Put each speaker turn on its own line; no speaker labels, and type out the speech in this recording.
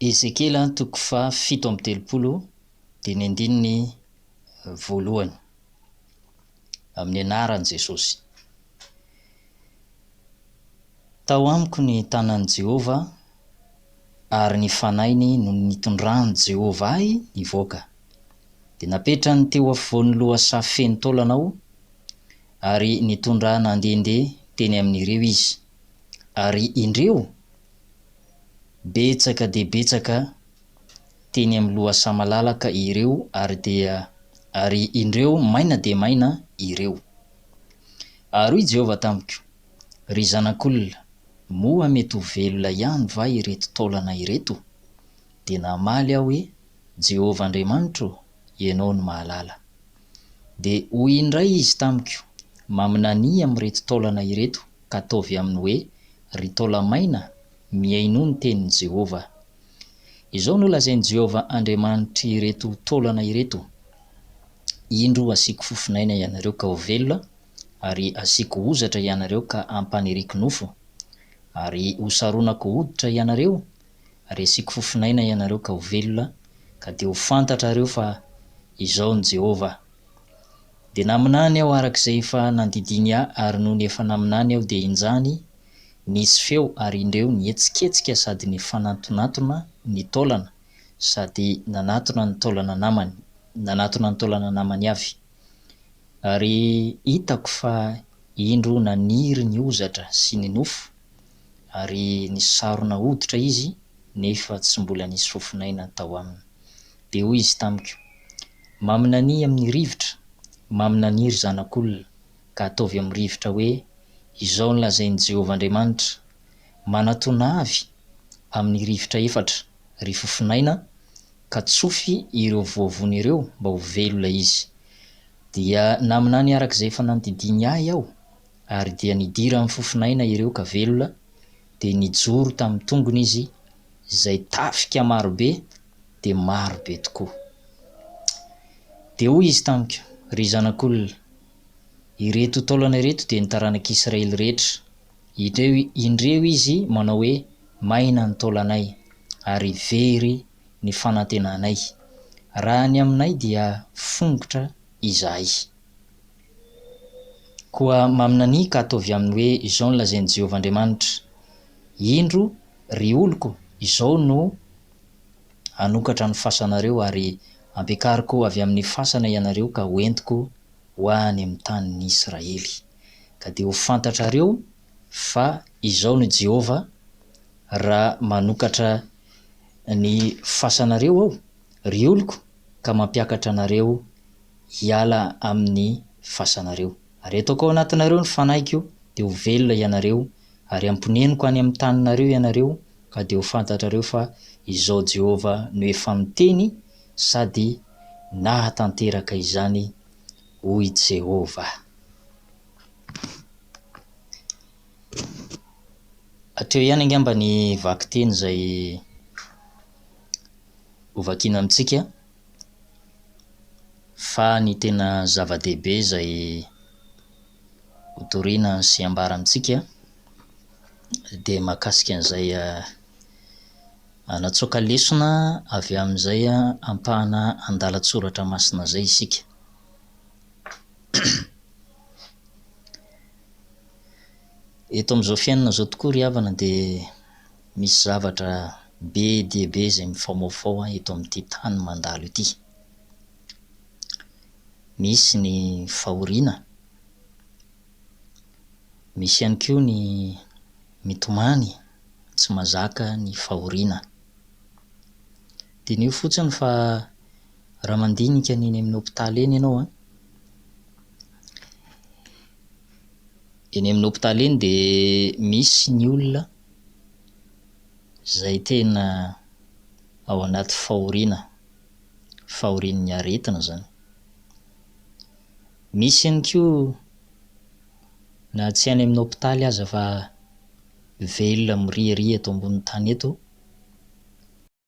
Ezekiela toko faha fito amby telopolo dia ny andininy voalohany amin'ny anaran'i Jesosy. Tao amiko ny tanan'i Jehovah, ary ny fanahiny no nitondran'i Jehovah ahy nivoaka. Dia napetrany teo afovoan'ny lohasaha feno taolana aho, ary nitondra ahy nandehandeha teny amin'ireo izy. Ary indreo! Betsaka dia betsaka teny amin'ny lohasaha malalaka ireo ary dia ary indreo maina dia maina ireo. Ary hoy Jehovah tamiko, Ry zanak'olona, moa mety ho velona ihany va ireto taolana ireto? Dia namaly aho hoe, Jehovah Andriamanitra ô, ianao no mahalala. Dia hoy indray izy tamiko, Maminania amin'ireto taolana ireto, ka ataovy aminy hoe, Ry taolamaina, mihainoa ny tenin'i Jehovah. Izao no lazain'i Jehovah Andriamanitr'ireto taolana ireto, Indro hasiako fofon'aina ianareo ka ho velona, ary hasiako hozatra ianareo ka hampaniriko nofo, ary hosaronako hoditra ianareo, ary hasiako fofon'aina ianareo ka ho velona, ka dia ho fantatrareo fa Izaho no Jehovah. Dia naminany aho araka izay efa nandidiany ahy, ary nony efa naminany aho dia injany nisy feo ary indreo nihetsiketsika sady nifanantonatona ny taolana sady nanatona ny taolana namany, nanatona ny taolana namany avy. Ary hitako fa indro naniry ny hozatra sy ny nofo ary nisarona hoditra izy nefa tsy mbola nisy fofonaina tao aminy. Dia hoy izy tamiko, Maminanihy amin'ny rivotra, maminanihy ry zanak'olona, ka ataovy amin'ny rivotra hoe, Izao no lazain'i Jehovah Andriamanitra, Manatona avy amin'ny rivotra efatra, ry fofonaina, ka tsofy ireo voavony ireo, mba ho velo ilay izy. Dia naminany araka izay efa nandidiany ahy aho, Ary dia nidiran'ny fofon'aina ireo ka velona, dia nijoro tamin'ny tongony izy, izay tafika marobe dia marobe tokoa. Dia hoy izy tamiko, Ry zanak'olona, ireto taolana ireto dia ny taranak'Israely rehetra. Indreo izy manao hoe, Maina ny taolanay, ary very ny fanantenanay. Raha ny aminay dia fongotra izahay. Koa maminanià ka ataovy aminy hoe, Izao no lazain'i Jehovah Andriamanitra, Indro, ry oloko, izao no hanokatra ny fasanareo, ary ampiakariko avy amin'ny fasana ianareo ka hoentiko ho any amin'ny tanin'Israely. Ka dia ho fantatrareo fa izao no Jehovah, Raha manokatra ny fasanareo aho, ry oloko, ka mampiakatra anareo hiala amin' ny fasanareo. Ary hataoko ao anatinareo ny Fanahiko, dia ho velona ianareo, ary hamponeniko any amin' ny taninareo ianareo, ka dia ho fantatrareo fa Izaho Jehovah no efa miteny sady nahatanteraka izany, hoy Jehovah. Hatreo ihany angamba ny vakiteny izay hovakina amintsika. Fa ny tena zava-dehibe izay hotorina sy ambara amintsika dia mahakasika an'izay hanatsoaka lesona avy amin'izay ampahana andalan-tsoratra masina izay isika. Eto amin'izao fiainana izao tokoa ry havana dia Misy zavatra be dia be izay mifaomaofao ahy eto amin'ity tany mandalo ity. Misy ny fahoriana, misy ihany koa ny mitomany tsy mazaka ny fahoriana. Diniho fotsiny fa raha mandinika ny eny amin'ny hopitaly eny ianao an, eny amin'ny hopitaly eny dia misy ny olona izay tena ao anaty fahoriana, fahorian'ny aretina izany. Misy ihany koa na tsy any amin'ny hopitaly aza fa velona miriaria eto ambonin'ny tany eto.